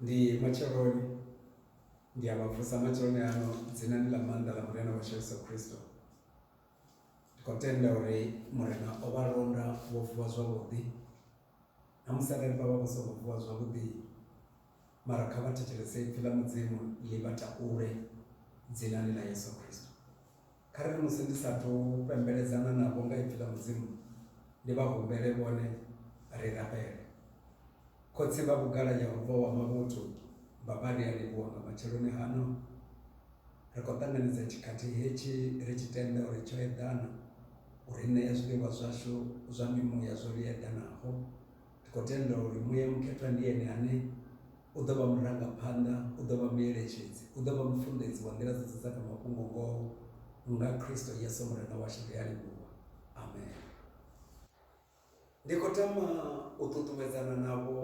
Ndi matsheloni ndi a vha vusa matsheloni ano dzinani ḽa maanḓa ḽa Murena washu Yesu Kristo. Ndi khou tenda uri Murena o vha londa vho vuwa zwavhuḓi. Namusi arali vha vha vha songo vuwa zwavhuḓi mara kha vha thetshelese ipfi ḽa Mudzimu ḽi vha takule dzinani ḽa Yesu Kristo. Kha ri ri musi ndi sa thu fhembeledzana navho nga ipfi ḽa Mudzimu, ndi vha humbele vhone ri rabele. Khotsi vha vhugala Yehova wa mavhuthu, Baba ri a livhuwa nga matsheloni hano. Ri khou ṱanganedza tshikhathi hetshi ri tshi tenda uri tsho eḓana, u ri ṋea zwiḽiwa zwashu zwa mimuya zwo ḽi eḓanaho. Ri khou tenda uri Muya Mukhethwa ndi Ene ane u ḓo vha murangaphanḓa, u ḓo vha mueletshedzi, u ḓo vha mufunḓedzi wa nḓila dzoṱhe dza kha mafhungo-ngoho, nga Kristo Yesu Murena washu, ri a livhuwa. Amen. Ndi khou tama u ṱuṱuwedzana navho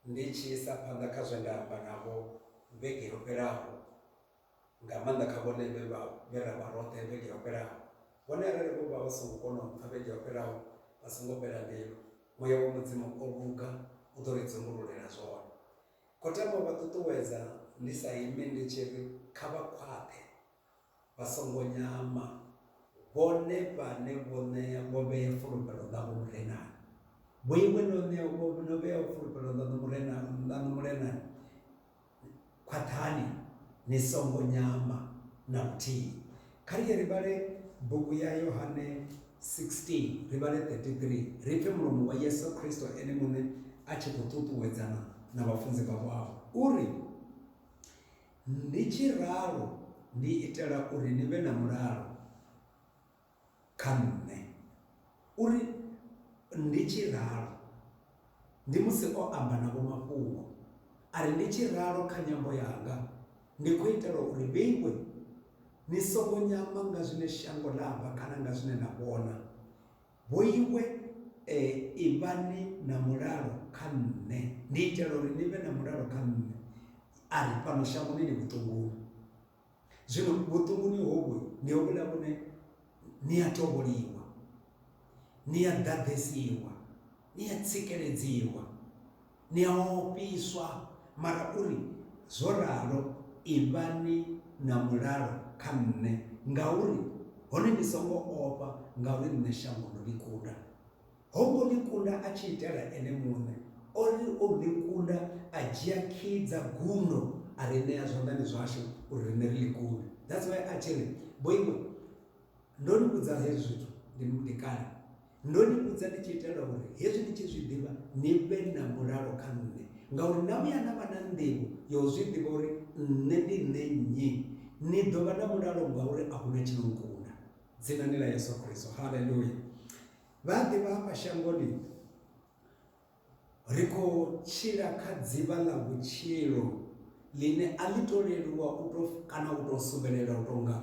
ndi tshi isa phanḓa kha zwe nda amba navho vhege yo fhelaho. nga maanḓa kha vhone vhe vha vhe ra vha roṱhe vhege yo fhelaho. Hone arali vho vha vha songo kona u mpfa vhege yo fhelaho, vha songo fhela mbilu. Muya wa Mudzimu o luga u ḓo ri dzumbululela zwone. Khotham o vha ṱuṱuwedza ndi sa imi ndi tshi ri, Kha vha khwaṱhe, vha songo nyama, vhone vhane vho ṋea vho vhea fulufhelo ḽavho Murenani. Vhoiwe no ṋea vho no vhea fulufhelo ḽaṋu Murenani ḽaṋu Murenani. Khwaṱhani ni songo nyama na luthihi. Kha ri ye ri vhale bugu ya Yohane 16, ri vhale 33, ri pfe mulomo wa Yesu Kristo ene muṋe a tshi khou ṱuṱuwedzana na vhafunzi vhawe afha. U ri, Ndi tshi ralo ndi itela uri ni vhe na mulalo. kha nṋe uri ndi tshi ralo ndi musi o amba na vho mafhungo a ri ndi tshi ralo kha nyambo yanga ndi khou itela uri vheiwe ni songo nyama nga zwine shango ḽa amba kana nga zwine na vhona vhoiwe e, ivhani na mulalo kha nṋe ndi itela uri ni vhe na mulalo kha nṋe a ri fhano shangoni ni vhutongoni Zwino vhuṱunguni hovhu ndi hovhuḽa vhune ni a tovholiwa, ni a ḓaḓesiwa, ni a tsikeledziwa, ni a ofhiswa, mara u ri, Zwo ralo, ivhani na mulalo kha nṋe, ngauri, hone ni songo ofha, ngauri nṋe shango ndo ḽi kunda. Ho ngo ḽi kunda a tshi itela ene muṋe, o ri o ḽi kunda a dzhia khiyi dza gundo a ri ṋea zwanḓani zwashu uri riṋe ri ḽi kunde. That's why a tshi ri, Vhoiwe, ndo ni vhudza hezwi zwithu ndi ndi kale. Ndo ni vhudza ndi tshi itela uri hezwi ni tshi zwi ḓivha ni vhe na mulalo kha nṋe, ngauri na vhuya na vha na nḓivho ya u zwi ḓivha uri nṋe ndi nṋe nnyi. Ni ḓo vha na mulalo ngauri a hu na tshi no nkunda. Dzinani ḽa Yesu Kristo. Haleluya! Vha a ḓivha hafha shangoni ri khou tshila kha dzivha ḽa vhutshilo ḽine a ḽi to leluwa u to kana u to suvhelela u tonga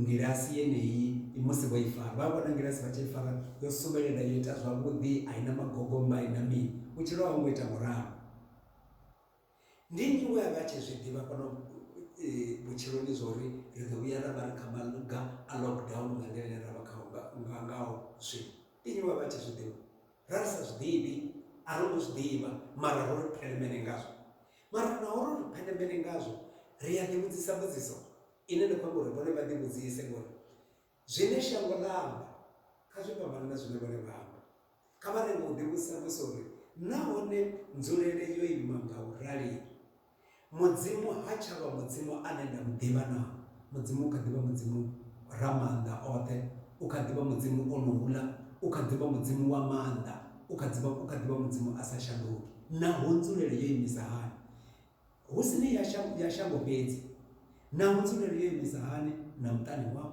ngilasi yeneyi musi vho i fara vha vhona ngilasi vha tshi i fara yo suvhelela yo ita zwavhuḓi a i na magogomba a i na mini vhutshilo ha ngo ita ngoralo Ndi nnyi we a vha a tshi zwi ḓivha fhano vhutshiloni zwa uri ri ḓo vhuya ra vha ri kha maga a lockdown nga nḓila ine ra vha khao nga ngaho zwino? Ndi nnyi we a vha a tshi zwi ḓivha? Ra ri sa zwi ḓivhi, a ro ngo zwi ḓivha mara ro ri phelemene ngazwo. Mara naho ro ri phelemene ngazwo, ri a ḓivhudzisa mbudziso ine nda khou amba uri vhone vha ḓivhudzise ngori Zwine shango ḽa amba kha zwi fhambane na zwine vhone vha amba. Kha vha lenge u ḓivhudzisa mbudziso uri, Nahone nzulele yo ima nga u rali? Mudzimu ha tsha vha Mudzimu ane nda mu ḓivha naa? Mudzimu u kha ḓi vha Mudzimu Ramaanḓaoṱhe, u kha ḓi vha Mudzimu onouḽa, u kha ḓi vha Mudzimu wa maanḓa, u kha ḓi vha Mudzimu a sa shanduki. Naho nzulele yo imisa hani? Hu si ni ya shango fhedzi, naho nzulele yo imisa hani na muṱani wau,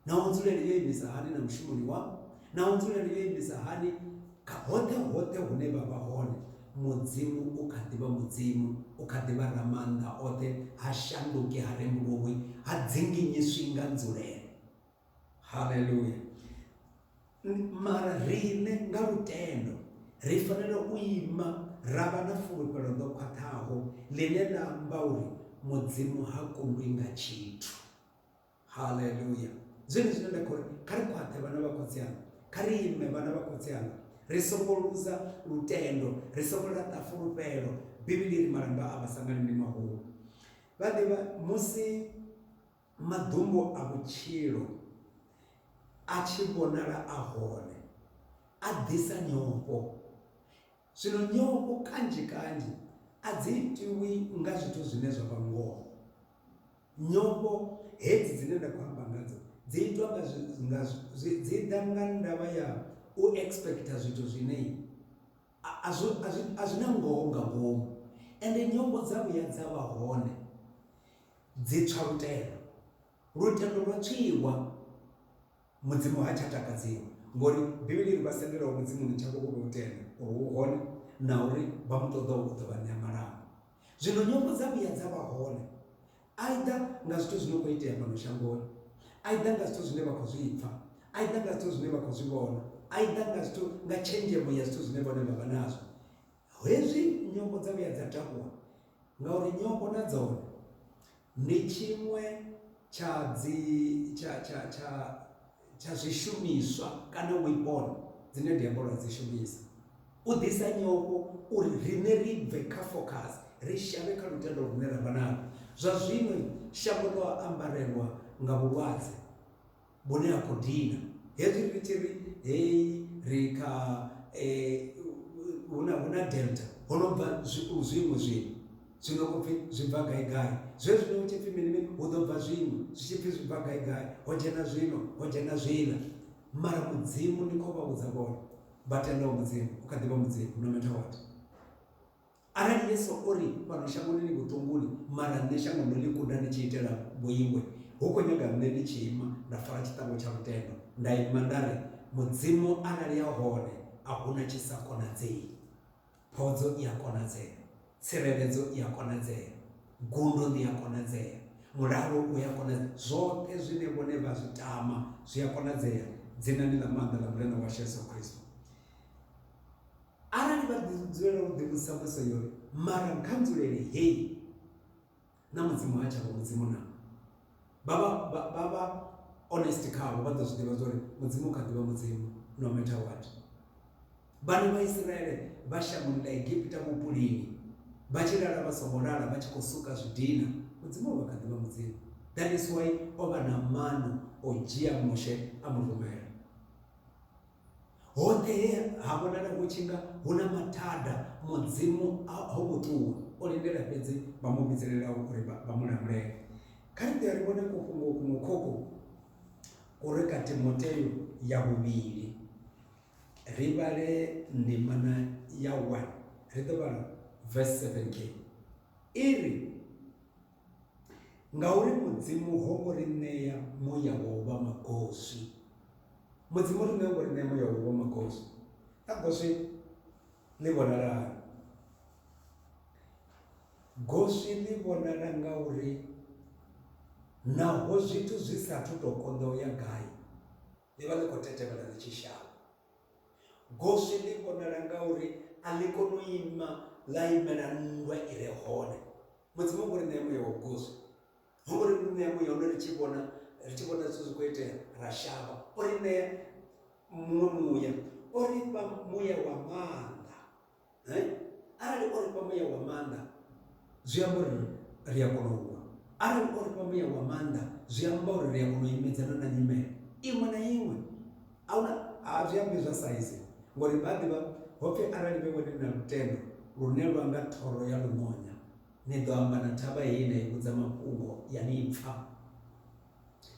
naho nzulele yo imisa hani na mushumoni wau, naho nzulele yo imisa hani kha hoṱhe hoṱhe hune vha vha hone, Mudzimu u kha ḓi vha Mudzimu, u kha ḓi vha Ramaanḓa oṱhe, ha shanduki, ha rembuluwi, ha dzinginyiswi nga nzulele. haleluya mara riṋe nga lutendo ri fanela u ima ra vha na fulufhelo ḽo khwaṱhaho ḽine ḽa amba uri mudzimu ha kundwi nga tshithu haleluya zwine zwine nda khori kha ri khwaṱhe vhana vha khotsi anga kha ri ime vhana vha khotsi anga ri songo luza lutendo ri songo laṱa fulufhelo bivhili ri malamba a vha sangani ndi mahulu vha ḓivha musi Maḓumbu a vhutshilo a tshi vhonala a hone, a ḓisa nyofho. Zwino nyofho kanzhi-kanzhi a dzi itiwi nga zwithu zwine zwa vha ngoho. Nyofho hedzi dzine nda khou amba ngadzo dzi itwa nga zwi, nga zwi, dzi ḓa nga ndavha ya u expecter zwithu zwine A, a, zwi, a, zwi, a zwi na ngoho nga ngomu. Ende nyongo dza vhuya dza vha hone, dzi tswa lutendo. Lutendo lwa tswiwa, Mudzimu ha tsha takadziwa. Ngori Bivhili i ri vha sendelaho Mudzimuni tshavho vho vha u tenda uri u hone na uri vha mu ṱoḓaho u ḓo vha ṋea malango. Zwino nyongo dza vhuya dza vha hone, Either nga zwithu zwi no khou itea fhano shangoni, either nga zwithu zwine vha khou zwi pfa, either nga zwithu zwine vha khou zwi vhona, either nga zwithu, nga tshenzhemo ya zwithu zwine vhone vha vha nazwo. Hezwi nyofho dza vhuya dza takuwa, ngauri nyofho na dzone ndi tshiṅwe tsha dzi, tsha, tsha, tsha, tsha zwishumiswa kana weapon dzine diabolo a dzi shumisa u ḓisa nyofho uri riṋe ri bve kha focus ri shavhe kha lutendo lune ra vha nalo zwa zwino shango ḽo ambarelwa nga vhulwadze vhune ha khou dina hezwi ri tshi ri heyi ri kha um hu na delta ho no bva zwiṅwe zwino Zwino u pfi, Zwi bva gai-gai? Zwe zwino hu tshi pfi mini-mini, hu ḓo bva zwiṅwe, zwi tshi pfi, Zwi bva gai-gai? Ho dzhena zwino, ho dzhena zwiḽa. Mara Mudzimu, ndi khou vha vhudza vhone vha tendaho Mudzimu, u kha ḓi vha Mudzimu, no matter what. Arali Yesu o ri, Fhano shangoni ni vhuṱunguni, mara nṋe shango ndo ḽi kunda ni tshi itela vhuingwe, hu khou nyaga nṋe ndi tshi ima nda fara tshiṱangu tsha lutendo, nda ima nda ri, Mudzimu, arali a hone, a hu na tshi sa konadzei. Phodzo i a konadzea. Tsireledzo i a konadzea. Gundo ḽi a konadzea. Mulalo u a konadzea. Zwoṱhe zwine vhone vha zwi tama zwi a konadzea dzinani ḽa maanḓa ḽa Murena washu Yesu Kristo. Arali vha ḓi dzulela u ḓivhudzisa mbudziso yo ri, Mara nga nzulele hei? na mudzimu ha tshavha mudzimu na vha vha vha vha honest khavho vha ḓo zwi ḓivha zwori mudzimu kha ḓivha mudzimu no matter what vhana vha isiraele vha shangoni ḽa egipita vhupulini vha tshi lala vha songo lala vha tshi khou suka zwidina mudzimu o vha kha ḓivha mudzimu that is why o vha na mano o dzhia mushe a mu rumela Hoṱhe he ha vhonala hu tshi nga hu na mathada, Mudzimu ho ngo ṱuwa. O lindela fhedzi vha mu vhidzelelaho uri vha mu lamulele. Kha ri ḓe ri vhone kufhungo kuṅwe khokho ku re kha Timoteo ya vhuvhili. Ri vhale ndimana ya 1, ri ḓo vhala verse 7 ngei. I ri, Ngauri Mudzimu ho ngo ri ṋea muya wa u vha magoswi. Mudzimu ri ṋea ngo ri ṋea muya wa u vha magoswi. Kha goswi ḽi vhonala hani? Goswi ḽi vhonala nga uri naho zwithu zwi sa athu to konḓa u ya gai, ḽi vha ḽi khou tetevhela ḽi tshi shavha. Goswi ḽi vhonala nga uri a ḽi koni u ima ḽa imela nndwa i re hone. Mudzimu ngo ri ṋea muya wa goswi, ho ngo ri ṋea muya une ri tshi vhona ri tshi vhona zwithu zwi khou itea ra shavha. O ri ṋea muṅwe muya, o ri fha muya wa maanḓa. eh? arali o ri fha muya wa maanḓa zwi amba uri ri a kona u lwa arali o ri fha muya wa maanḓa zwi amba uri ri a kona u imedzana na nyimele iṅwe na iṅwe a huna a zwi ambi zwa saizi ngori vha ḓivha ho pfhi arali vhe wene na lutendo lune lwa nga thoro ya lumonya ni ḓo amba na thavha heyi na i vhudza mafhungo ya ni pfha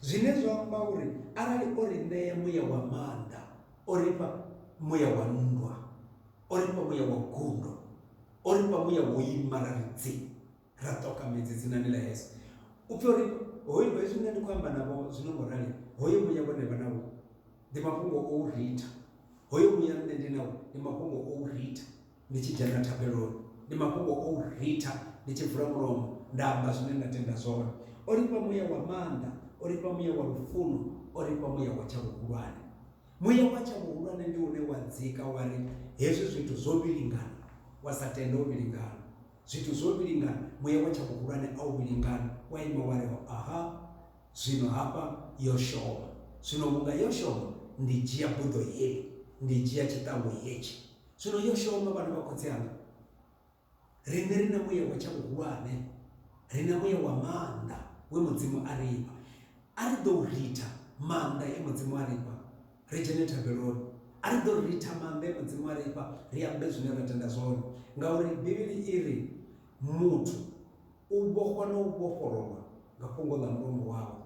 Zwine zwa amba uri arali o ri ṋea muya wa maanḓa, o ri fha muya wa nndwa, o ri fha muya wa gundo, o ri fha muya wo ima ra ri dzi, ra ṱoka midzi dzinani ḽa Yesu. U pfi o ri hoyo, hezwi nṋe ndi khou amba navho zwino ngo rali, hoyo muya vhone vha nawo ndi mafhungo o u ritha, hoyo muya nṋe ndi nawo ndi mafhungo o u ritha. ndi tshi dzhena thabeloni ndi mafhungo o u ritha ndi tshi vula mulomo nda amba zwine nda tenda zwone o ri fha muya wa maanḓa o ri fha muya wa lufuno o ri fha muya wa tsha vhuhulwane muya wa tsha vhuhulwane ndi une wa dzika wa ri hezwi zwithu zwo vhilingana wa sa tende o vhilingana zwithu zwo vhilingana muya wa tsha vhuhulwane a u vhilingana wa ima wa ri aha zwino hafha yo shoma zwino vhunga yo shoma ndi dzhia buḓo heli ndi dzhia tshiṱangu hetshi Zwino yo shoma vhana vha khotsi anga, riṋe ri na muya wa tsha vhuhulwane, ri na muya wa maanḓa we Mudzimu a ri fha. A ri ḓou ritha maanḓa e Mudzimu a ri fha, ri dzhene thabeloni. A ri ḓo ritha maanḓa e Mudzimu a ri fha, ri ambe zwine ra tenda zwone. Ngauri Bivhili i ri, Muthu u vhofhwa na u vhofhololwa nga fhungo ḽa mulomo wawe.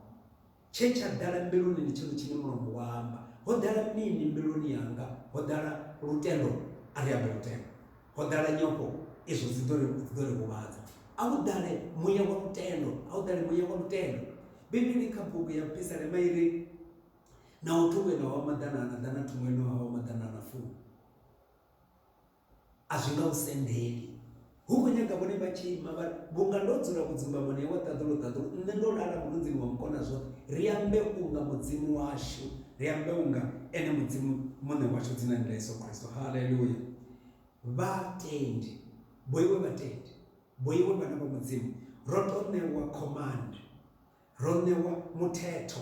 Tshe tsha ḓala mbiluni ndi tshone tshine mulomo wa amba. Ho ḓala mini mbiluni yanga? Ho ḓala lutendo, a ri ambe lutendo. Ho ḓala nyofho, izwo dzi ḓo ri dzi ḓo ri huvhadza. A hu ḓale muya wa lutendo, a hu ḓale muya wa lutendo. Bivhili kha bugu ya Pisalema i ri, Naho thungo i nga wa maḓanana ḓana, thungo i no nga wa maḓanana fumi. A zwi nga u sendeli. Hu khou nyaga vhone vha tshi ima vha vhunga ndo dzula vhudzumbamoni hawe ṱaḓulu ṱaḓulu, nṋe ndo lala mulunzini wa Mukonazwoṱhe, ri ambe unga Mudzimu washu, ri ambe unga Ene Mudzimu Muṋe washu dzinani ḽa Yesu Kristo. Haleluya! Vhatendi, vhoiwe vhatendi, vhoiwe vhana vha Mudzimu, ro tou ṋewa command Ro ṋewa muthetho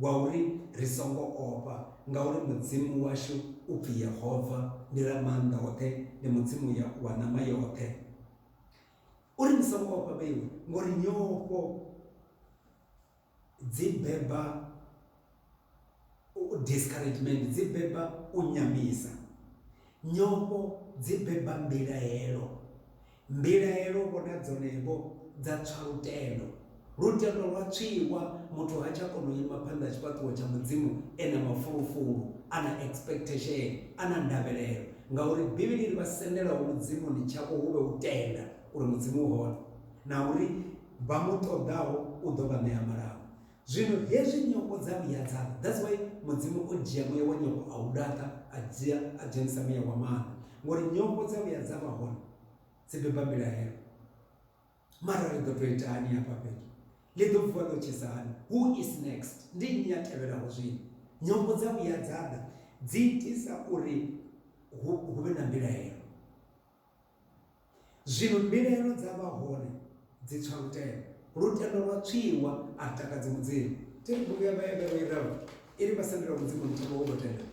wa uri ri songo ofha, ngauri Mudzimu washu u pfi Yehova, ndi Ramaanḓaoṱhe, ndi Mudzimu wa ṋama yoṱhe. U ri, Ni songo ofha vheiwe, ngori nyofho dzi beba. Discouragement dzi beba u nyamisa. Nyofho dzi beba mbilaelo. Mbilaelo vho na dzone-vho dza tswa lutendo. Lutendo lwa tswiwa, muthu ha tsha kona u ima phanḓa ha tshifhaṱuwo tsha Mudzimu e na mafulufulu, a na expectation, a na ndavhelelo. Ngauri Bivhili i ri, Vha sendelaho Mudzimuni tshavho hu vhe u tenda uri Mudzimu u hone, na uri vha mu ṱoḓaho u ḓo vha ṋea malamba. Zwino hezwi nyofho dza vhuya dza ḽa, that's why Mudzimu o dzhia muya wa nyofho a u laṱa, a dzhia a dzhenisa muya wa maanḓa, ngori nyofho dza vhuya dza vha hone, dzi beba mbilahelo. Mara ri ḓo tou ita hani hafha fhethu? Ḽi ḓo vuwa ḽo tshisa hani? Who is next? Ndi nnyi a tevhelaho zwino? Nyofho dza vhuya dza ḓa, dzi itisa uri hu vhe na mbilahelo. Zwino mbilaelo dza vha hone dzi tswa lutendo. Lutendo lwa tswiwa, a lu takadzi Mudzimu. Thi ri bugu ya Vhahevheru i ralo, i ri vha sendela Mudzimu muthelo wo tou tenda,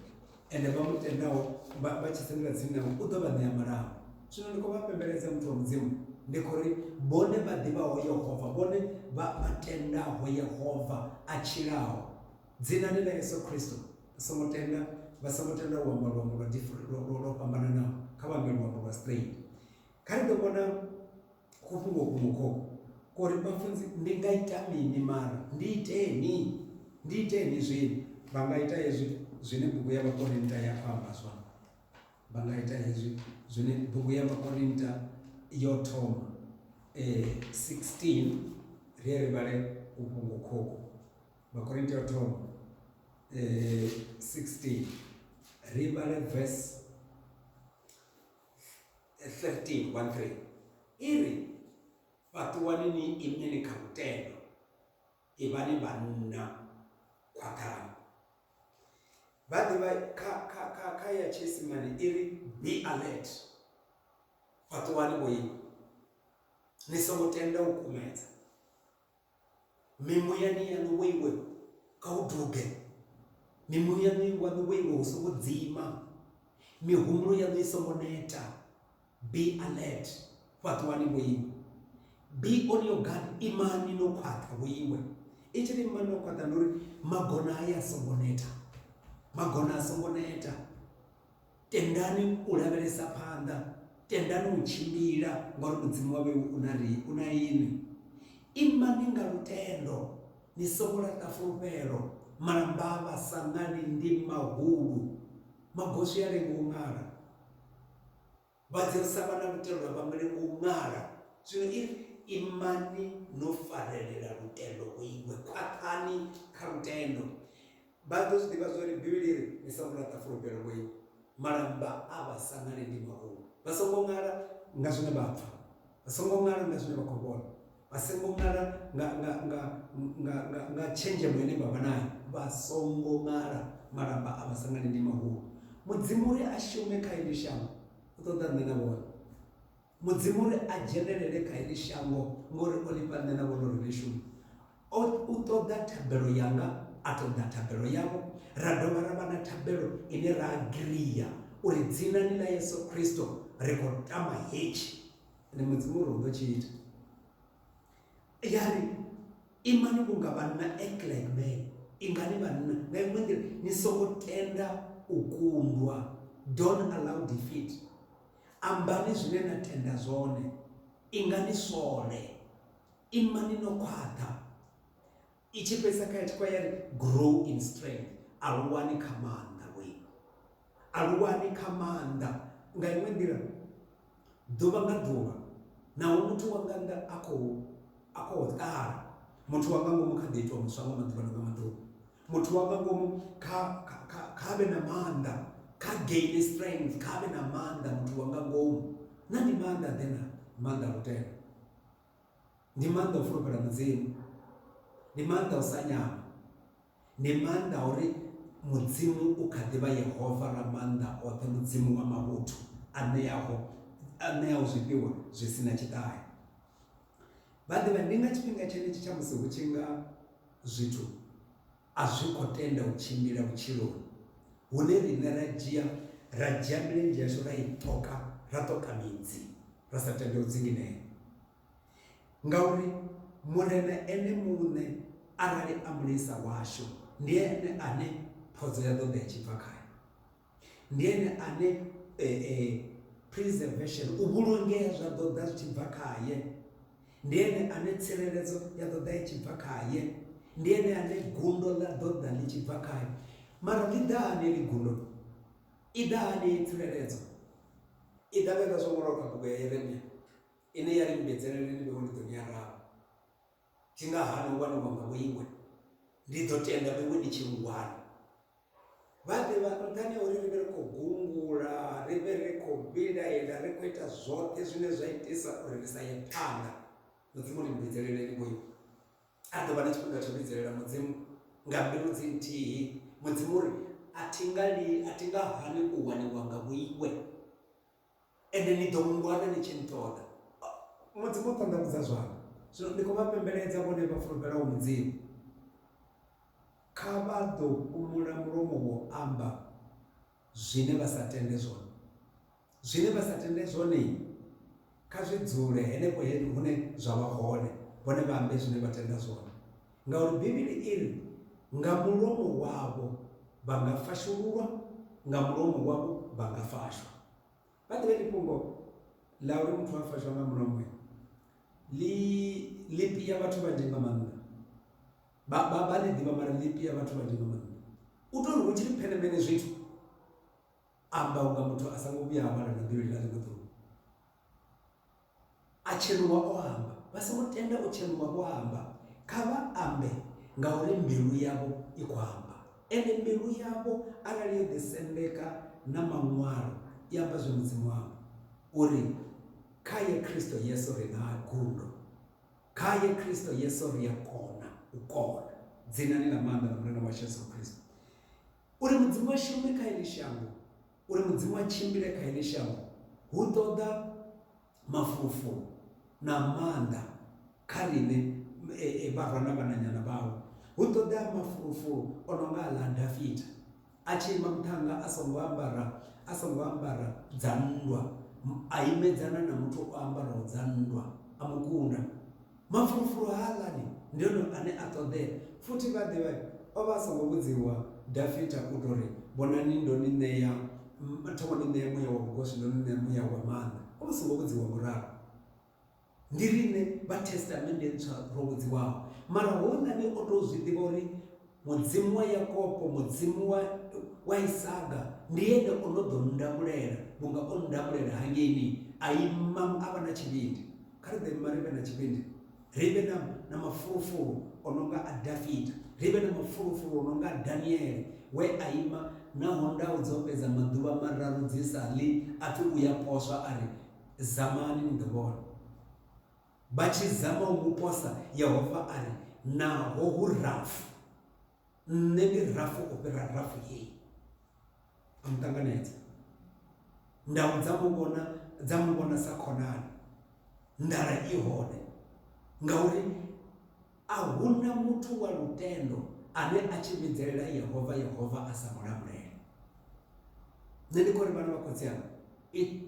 ende vha mu tendaho vha, vha tshi sendela tsini nae, u ḓo vha ṋea malango. Zwino ndi khou vha fhembeledza, muthu wa Mudzimu, ndi khou ri, vhone vha ḓivhaho Yehova, vhone vha, vha tendaho Yehova a tshilaho, Dzina ndi ḽa Yesu Kristo. Vha songo tenda, vha songo tenda u amba luambo lwa dif, lwo, lwo, lwo fhambananaho. Kha vha ambe luambo lwa Spain. Kha ri ḓo vhona kufhungo kuṅwe khokho ko ri, Vhafunzi, ndi nga ita mini? Mara ndi iteni, ndi iteni zwino. Vha nga ita hezwi zwine bugu ya Vhakorinta ya amba zwone. Vha nga ita hezwi zwine bugu ya Vhakorinta yo thoma, eh, 16, ri ye ri vhale kufhungo khokho. Vhakorinti ya u thoma eh, 16 ri vhale verse 13 1 3 i ri fhaṱuwani ni imeni kha lutendo ivhani vhanna khwaṱhani vha ḓivha kha kha kha kha ya tshiisimane i ri be alert fhaṱuwani vho ima ni songo tenda u kumedza Mimuyani yaṋu wo iwe kha hu duge, mimuyani waṋu wo iwe hu songo dzima, mihumbulo yaṋu i songo neta. Be alert, fhaṱuwani vho iwe. Be on your guard, imani no khwaṱha vho iwe. I tshi ri imani no khwaṱha ndi uri magona haya a songo neta, magona a songo neta. Tendani u lavhelesa phanḓa, tendani u tshimbila, ngauri Mudzimu wa vheu u na ri, u na inwi. Imani nga lutendo, ni songo laṱa fulufhelo. Malamba a vhasaṅali ndi mahulu, magoswi a lenga u ṅala. Vha Dzeusa vha na lutendo a vha nga lengi u ṅala. Zwino i ri, Imani no farelela lutendo, u iwe, khwaṱhani kha lutendo. Vha ḓo zwi ḓivha zwa uri Bivhili i ri, Ni songo laṱa fulufhelo lwo ima. Malamba a vha sa ṅali ndi maungu. Vha songo ṅala nga zwine vha pfa, vha songo ṅala nga zwine vha khou vhona, vha songo ṅala nga, nga, nga, nga, nga, nga tshenzhemo ine vha vha nayo. Vha songo ṅala, malamba a vha sa ṅali ndi maungu. Mudzimu uri a shume kha heḽi shango, u ṱoḓa nṋe na vhone. Mudzimu uri a dzhenelele kha heḽi shango ngori o ḽi fha nṋe na vhono ri ḽi shume. O, u ṱoḓa thabelo yanga, a ṱoḓa thabelo yau, ra dovha ra vha na thabelo ine ra agiria uri Dzinani ḽa Yesu Kristo ri khou tama hetshi. Ende Mudzimu uri u ḓo tshi ita. Ya ri, Imani vhunga vhanna, act like men. Ingani vhanna. Nga iṅwe nḓila, ni songo tenda u kundwa, don't allow defeat. Ambani zwine na tenda zwone, ingani swole, imani no khwaṱha. I tshi fhedzisa kha ya tshikwa ya ri grow in strength, aluwani kha maanḓa lwenu, aluwani kha maanḓa. Nga iṅwe nḓila ḓuvha nga ḓuvha naho muthu wa nga nnḓa a khou a khou ṱala muthu wa nga ngomu kha ḓi itwa muswa nga maḓuvha na nga maḓuvha muthu wa nga ngomu kha kha vhe na maanḓa kha gain strength kha vhe na maanḓa muthu wa nga ngomu na ndi maanḓa ḓe na maanḓa a lutendo ndi maanḓa o fulufhela mudzimu ndi maanḓa o sa nyama ndi maanḓa uri mudzimu u kha ḓivha yehova ra maanḓa oṱhe mudzimu wa mavhuthu a ṋeaho a ṋeaho zwifhiwa zwi si na tshiṱahe Vha ḓivha, ndi nga tshifhinga tshenetshi tsha musi hu tshi nga zwithu a zwi khou tenda u tshimbila vhutshiloni, hune riṋe ra dzhia ra dzhia milenzhe yashu ra i ṱoka, ra ṱoka midzi, ra sa tende u dzinginea. Ngauri Murena Ene muṋe arali a Mulisa washu, ndi Ene ane phodzo ya ḓo ḓa i tshi bva khae. Ndi ene ane e, e, preservation, u vhulungea zwa ḓo ḓa zwi tshi bva khaye. Ndi ene ane tsireledzo ya ḓo ḓa i tshi bva khaye. Ndi ene ane gundo ḽa ḓo ḓa ḽi tshi bva khaye. Mara ḽi ḓa hani ḽi gundo? I ḓa hani ye tsireledzo? I ḓa vhega zwo ṅwalwa kha bugu ya Yeremia ine ya ri mbedzeleleni vhevho ndi ḓo ni araba. Dzi nga hani u waniwa nga vhoiwe? Ndi ḓo tenda vhoiwe ndi tshi lu wana. Vhaḓivha nṱhani ha uri ri vhe ri khou gungula ri vhe ri khou vhilaela ri khou ita zwoṱhe zwine zwa itisa uri ri sa ye phanḓa mudzimu ri mbidzeleleni vhoiwe a ḓo vha na tshifhinga tsho vhidzelela mudzimu nga mbilu dzi nthihi mudzimu uri a thi nga li a thi nga hani u waniwa nga vhoiwe Ende ni ḓo nngwana ni tshi nṱoḓa. Mudzimu o ṱanḓavhudza zwaṋu, zwino ni khou vha pembeledza vhone vha fulufhelaho Mudzimu. Kha vha ḓo fhumula mulomo wo amba zwine vha sa tende zwone. Zwine vha sa tende zwone kha zwi dzule henefho hune zwa vha hone, vhone vha ambe zwine vha tenda zwone. ngauri Bivhili i ri, Nga mulomo wavho vha nga fashululwa, nga mulomo wavho vha nga fashwa. Vha ḓivhe ḽi fhungo ḽa uri muthu a fashwa nga mulomo ḽi ḽi pia vhathu vhanzhi nga maanḓa vha vha vha ḽi ḓivha mara ḽi pia vhathu vhanzhi nga maanḓa u tori hu tshi ri phenemene zwithu amba unga muthu a songo vhuya a vhala na bivhili ḽa ḽiṅwe ḓuvha A tshenuwa o amba. Vha songo tenda u tshenuwa vho amba. Kha vha ambe, ngauri mbilu yavho i khou amba. Ende mbilu yavho arali yo ḓisendeka na Maṅwalo, i amba zwe Mudzimu a amba, uri, Khae Kristo Yesu ri na gundo. Khae Kristo Yesu ri a kona u kona. Dzinani ḽa maanḓa ḽa Murena washu Yesu Kristo. Uri Mudzimu a shume kha heḽi shango. Uri Mudzimu a tshimbile kha heḽi shango hu ṱoḓa mafulufulu na maanḓa kha riṋe e, e, vharwa na vhananyana vhawe. Hu ṱoḓea mafulufulu o no nga aḽa a Dafita a tshi ima muṱhannga a songo ambara a songo ambara dza nndwa, a imedzana na muthu o ambaraho dza nndwa a mu kunda. Mafulufulu haaḽani ndi one ane a ṱoḓea. Futhi vha ḓivhe, o vha a songo vhudziwa Dafita u tou ri, Vhonani, ndo ni ṋea, thoma ni ṋea muya wa vhugoswi, ndo ni ṋea muya wa maanḓa. O vha a songo vhudziwa nga u ralo. Ndi riṋe vha Thestamennde Ntswa ro vhudziwaho. Mara houḽani o tou zwi ḓivha uri. Mudzimu wa Yakopo, Mudzimu wa, wa Isaga, ndi ene o no ḓo ndamulela vhunga o ndamulela hangeini a ima a vha na tshivhindi. Kha ri ḓo ima ri vhe na tshivhindi, ri vhe na, na mafulufulu o no nga a Dafita, ri vhe na mafulufulu o no nga a Daniele we a ima naho ndau dzo fhedza maḓuvha mararu dzi sa ḽi, a pfi u ya poswa a ri, Zamani ni ḓo vhona. Vha tshi zama u mu posa, Yehova a ri, Naho hu rafu, nṋe ndi rafu u fhira rafu heyi. A mu ṱanganedza. Ndau dza mu vhona dza mu vhona sa khonani. Nḓala i hone ngauri A hu na muthu wa lutendo ane a tshi vhidzelela Yehova, Yehova a sa mu lamulele. Nṋe ndi khou ri vhana vha khotsi anga,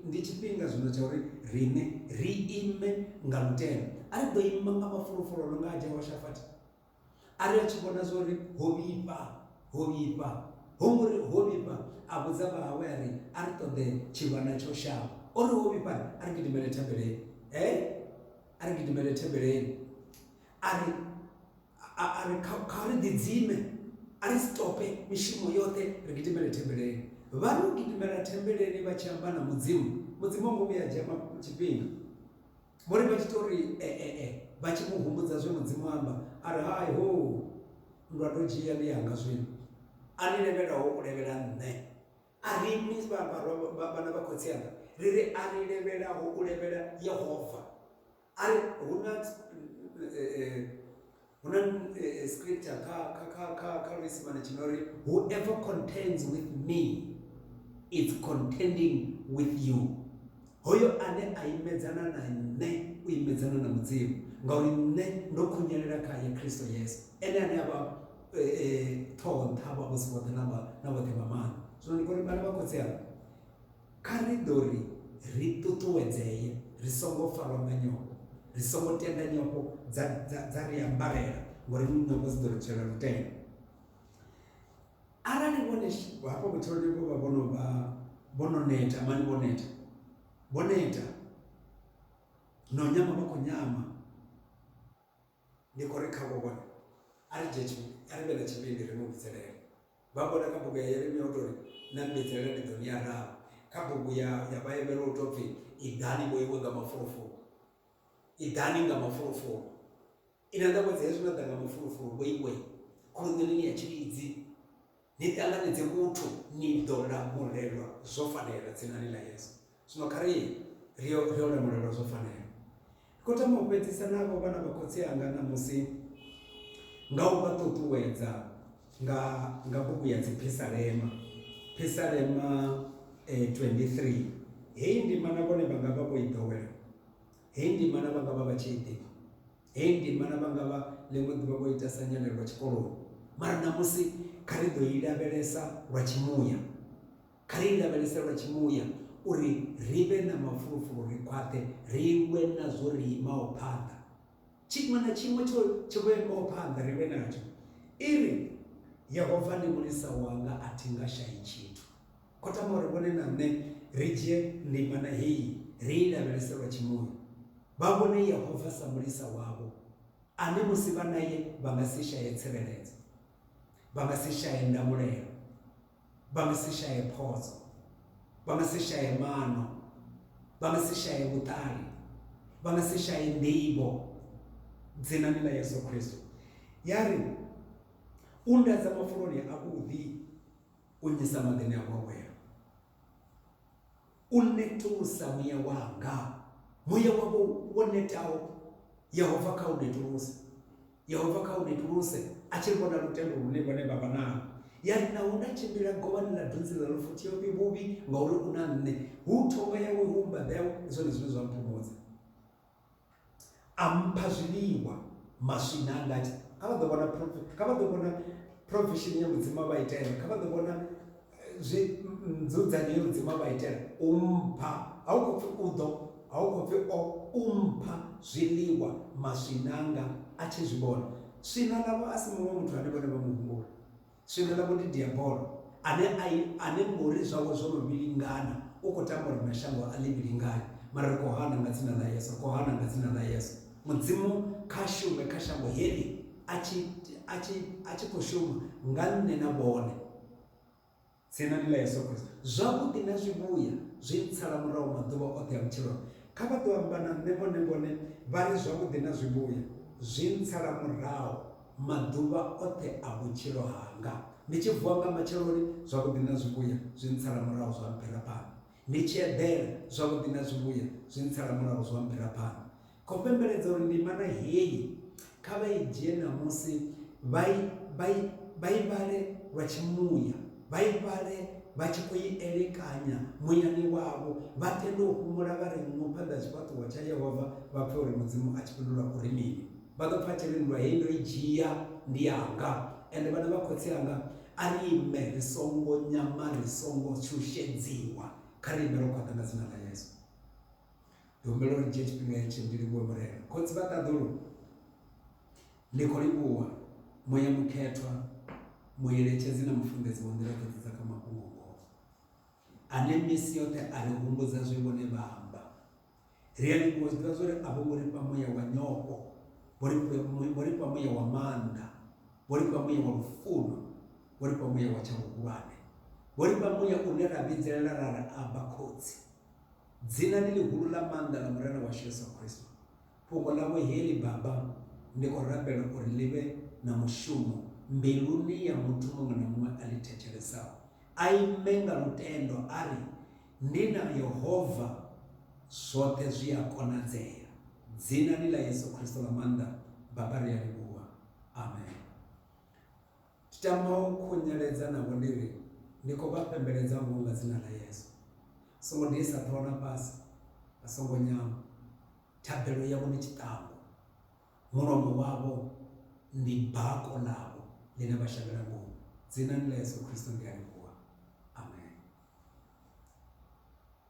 ndi tshifhinga zwino tsha uri riṋe ri ime nga lutendo. A ri ḓo ima nga mafulufulu no nga a Jehoshafati a ri a tshi vhona zwa uri ho vhifha, ho vhifha. Ho ngo ri ho vhifha a vhudza vhahawe a ri a ri ṱoḓe tshivhana tsho shavha. O ri ho vhifha a ri gidimele thabeleni. He a ri gidimele thembeleni a ri a ri kha ri ḓidzime a ri stope mishumo yoṱhe ri gidimele thembeleni vha no gidimela thembeleni vha tshi amba na mudzimu mudzimu wa ngomu ya dzhia tshifhinga vho ri vha tshi tou ri ee eh, eh, eh, vha tshi mu humbudza zwe mudzimu amba a ri hai ho ndwa ndo dzhia ndi yanga zwino a ni levhelaho u levhela nṋe A ri imi sa vhana vha khotsi anga, ri ri, A ri levhelaho u levhela Yehova. A ri, Hu na, hu na scripture kha, kha, kha, kha, kha luisimane tshi no ri, Whoever contends with me is contending with you. Hoyo ane a imedzana na Nṋe u imedzana na Mudzimu, ngauri Nṋe ndo khunyelela khae, Kristo Yesu, Ene ane a vha Ṱhoho-nṱha wa vhosi vhoṱhe na wa na vhoṱhe vha maanḓa. Zwino ndi khou ri, vhana vha Khotsi anga, kha ri ḓo ri ri ṱuṱuwedzee, ri songo farwa nga nyofho, ri songo tenda nyofho dza, dza, dza ri ambarela, ngauri nyofho dzi ḓo ri tswela lutendo. Arali vhone hafha vhutshiloni vho vha vho no vha vho no neta mani vho neta vho neta no nyama vha khou nyama ndi khou ri khavho vhone a ri dzhie a ri vhe na tshivhindi ri mu vhidzelele vha vhona kha bugu ya yeremia u tori na mbidzelela ndi ḓo ni ya raho kha bugu ya ya vhaevhela u tou pfhi iḓani vhoiwe nga mafulufulu iḓani nga mafulufulu Ina ndako dzesu na danga mafulufulu weiwe khuluṋeleni ya tshilidzi ni ṱanganedze vhuthu ni ḓo lamulelwa zwo fanela dzinani ḽa Yesu zwino kha ri ri yo ri yo lamulelwa zwo fanela ri khou tama u fhedzisa navho vhana vha khotsi anga ṋamusi nga u vha ṱuṱuwedza nga nga bugu ya dziphisalema phisalema eh, 23 heyi ndima na vhone vha nga vha vho i ḓowela Hei ndimana vha nga vha vha tshi i ḓivha. Hei ndimana vha nga vha ḽiṅwe ḓuvha vho ita sa nyalelwa tshikoloni. Mara ṋamusi kha ri ḓo i lavhelesa lwa tshimuya. Kha ri i lavhelese lwa tshimuya uri ri vhe na mafulufulu, ri khwaṱhe, ri lwe nazwo ri imaho phanḓa. Tshiṅwe na tshiṅwe tsho tsho vhewaho phanḓa ri lwe natsho. I ri, Yehova ndi mulisa wanga, a thi nga shai tshithu. O tama uri vhone na nṋe ri dzhie ndimana heyi ri i lavhelese lwa tshimoya, vha vhone Yehova sa Mulisa wavho ane musi vha nae vha nga si shaye tsireledzo, vha nga si shaye ndamulelo, vha nga si shaye phodzo, vha nga si shaye maano, vha nga si shaye vhuṱali, vha nga si shaye nḓivho. Dzinani ḽa Yesu Kristo, ya ri, U nndadza mafuloni avhuḓi. u nnyisa maḓini a gwagwela u netulusa muya wanga muya wavho wo netaho yehova kha u netuluse yehova kha u netuluse a tshi vhona lutendo lune vhone vha vha nalo ya ri naho nda tshimbila govhani ḽa dunzi ḽa lufuthi yo fhi vhuvhi ngauri u na nṋe hu thonga yawe hu mbaḓa yawe ndi zwone zwine zwa mphumudza a mpha zwiḽiwa maswina anga ati kha vha ḓo vhona kha vha ḓo vhona provision ya mudzimu a vha itela kha vha ḓo vhona eh, zwi nzudzanyo ya mudzimu a vha itela u mpha a u khou pfi u ḓo a u khou pfi o u mpha zwiḽiwa maswina anga a tshi zwi vhona swina ḽavho a si muṅwe muthu ane vhone vha muhumbula Swika ḽa vhuḓi Diabolo, ane a i, ane ngori zwawe zwo no vhilingana, u khou tamba uri mashango a ḽivhilingane, mara ri khou hana nga Dzina ḽa Yesu, ri khou hana nga Dzina ḽa Yesu. Mudzimu kha shume kha shango heḽi, a tshi, a tshi, a tshi khou shuma nga nṋe na vhone, Dzinani ḽa Yesu Kristo. Zwavhuḓi na zwivhuya zwi ntsala murahu maḓuvha oṱhe a vhutshilo hanga. Kha vha ḓo amba na nṋe vhone vhone, vha ri, Zwavhuḓi na zwivhuya zwi ntsala murahu. Maḓuvha oṱhe a vhutshilo hanga, ndi tshi vuwa nga matsheloni, zwavhuḓi na zwivhuya zwi ntsala murahu zwa mphira phanḓa, ndi tshi eḓela, zwavhuḓi na zwivhuya zwi ntsala murahu zwa mphira phanḓa. Khou fhembeledza uri ndimana heyi kha vha i dzhie ṋamusi vha i, vha i, vha i vhale lwa tshimuya, vha i vhale vha tshi khou i elekanya muyani wavho, vha tende u fhumula vha re nngu phanḓa ha tshifhaṱuwo tsha Yehova, vha pfe uri Mudzimu a tshi fhindula uri mini. vha ḓo pfa tshi ri nndwa heyi ndo i dzhia ndi yanga ende vhana vha khotsi anga a ri ime ri songo nyama ri songo shushedziwa kha ri ime ro khwaṱha nga dzina ḽa yesu ndi humbela uri dzhia tshifhinga hetshi ndi livhuwe murena khotsi vha ṱaḓulu ndi khou livhuwa muya mukhethwa mueletshedzi na mufunḓedzi wa nḓila dzoṱhe dza kha mafhungo ngoho ane misi yoṱhe a ri humbudza zwe vhone vha amba Ri a ḓi fhiwa zwiḓivha zwa uri a vho ngo ri fha muya wa nyofho, vho ri vho ri fha muya wa maanḓa, vho ri fha muya wa lufuno, vho ri fha muya wa tsha vhuhulwane, vho ri fha muya une ra vhidzelela ra ri aba khotsi. Dzina ndi ḽihulu ḽa maanḓa ḽa Murena washu Yesu Kristo. Fhungo ḽavho heḽi Baba, ndi khou rabela uri ḽi vhe na mushumo mbiluni ya muthu muṅwe na muṅwe a ḽi thetshelesaho. A ime nga lutendo a ri, Ni na Yehova zwoṱhe zwi a konadzea. Dzinani ḽa Yesu Kristo ḽa maanḓa, Baba, ri a livhuwa. Amen. Ndi tama u khunyeledza navho ndi ri, Ndi khou vha pembeledza ngoho nga dzina ḽa Yesu. Vha songo diisa ṱhoho na fhasi, vha songo nyama. Thabelo yavho ndi tshiṱangu. Mulomo wavho ndi bako ḽavho ḽine vha shavhela ngomu. Dzinani ḽa Yesu Kristo ndi a livhuwa. Amen.